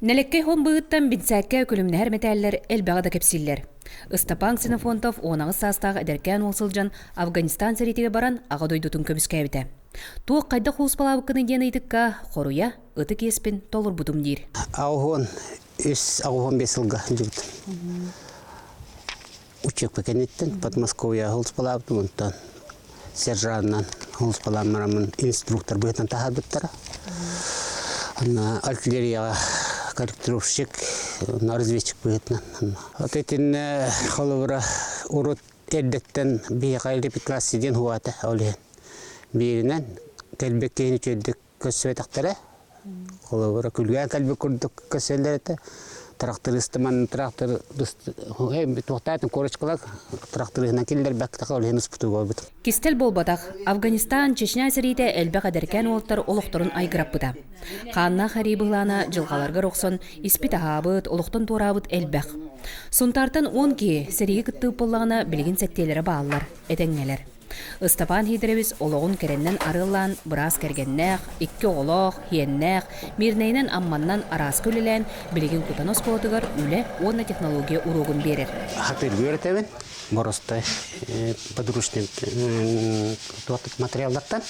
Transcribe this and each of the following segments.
Нэлэккэй холм быыһыттан Бинсээккэ күлүмнэһэр мэтээллэр элбэҕи да кэпсииллэр. Ыстапаан Ксенофонтов уонаҕыс саастаах эдэркээн уол сылдьан Афганистан сэриитигэр баран Аҕа дойдутун көмүскээбитэ. Туох хайдах уус-балаабыккыный диэн ыйытыкка хоруйа ытык иэспин толорбутум диир. Аҕыһын үс, аҕыһын бес сылга дьыбытым. учебка кэнниттэн Подмосковье һулуспалаабытым онтон сержантынан һулуспалааммараммын инструктор быһыытынан таһаарбыттара анна артиллерияҕа корректировщик на разведчик быһыытынан от итиннэ холобура урут эрдэттэн биһиэхэ репетласси диэн хуаата ол иһин бииринэн кэлбэккэһин үтүөрдүк көрсүбэтэхтэрэ. Холобура, күлгэн кэлбит курдук көрсөллөр этэ. Трактористыман трактор туохтаатын корочкалар тракторыһынан киллэрбэктэхэ ол иһин успутуга орбут. Кистэл буолбатах, Афганистан, Чечня сэриитэ элбэх эдэркээн уолаттар олохторун айгыраппыта. Хааннаах арыы быһылаана дьылҕаларгар охсон испит аһаабыт, олохтон туораабыт элбэх. Сунтаартан он киһи сэриигэ кыттыып буоллаҕына билигин сэттиэлэрэ бааллар, этэҥҥэлэр. Ыстапаан Һиидэрэбис олоҕун кэрэннэн арыаллаан быраас кэргэннээх, икки оҕолоох, иэннээх, Миирнэйинэн-Амманнан арааска үлэлээн, билигин Кутана оскуолатыгар үлэ уонна технология уруогун биэрэр. Атыылыыр этэбин Боростой подручник смотреллартан.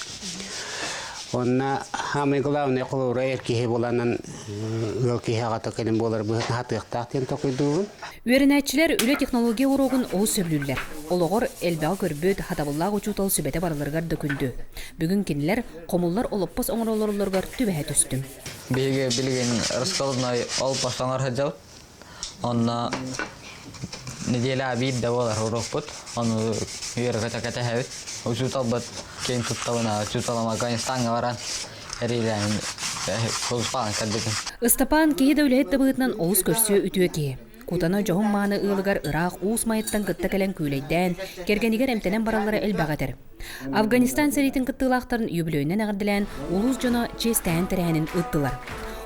Онна самый главный холуурай киһи буланын ыал киһи аҕата кэлин буолар быһыт хатыахтаах диэн токуйдуубун. Үөрэнээччилэр үлэ технология уруогун олус сөбүлүүллэр. Олоҕор элбэҕи көрбүт, хатабыллаах учуутал сүбэтэ барыларыгар да күндү. Бүгүн кинилэр хомуллар олоппос оҥороллорулларыгар түбэһэ түстүм. Биһиги билигин раскладной ол бастаҥар сылдьабыт. Онно неделя биирдэ буолар уруокпут. Ону үөрэ-көтө кэтэһэбит. Учууталбыт киин туттабына, учууталым Афганистаҥҥа баран эриэлээһин Ыстапаан кэлбитин. Ыстапаан киһи да үлэһит да быһыытынан олус көрсүө үтүө киһи. Кутана дьоһун мааны ыалыгар ыраах уус майыттан кытта кэлэн күүлэйдээн, кэргэнигэр эмтэнэн бараллара элбэх этэр. Афганистан сэриитин кыттыылаахтарын юбилейынан эҕэрдэлээн улуус дьоно чиэстээн тэрээһинин ыыттылар.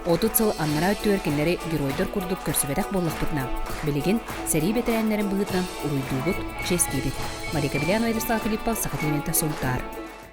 Отут сыл аннараа өттүгэр кинилэри геройдар курдук көрсүбэтэх буоллахпытына, билигин сэрии бэтэрээннэрин быһыытынан уруйдуубут, чиэстиибит. Мария Кабелян, Владислав Филиппов, Саха телемента Сунтаар.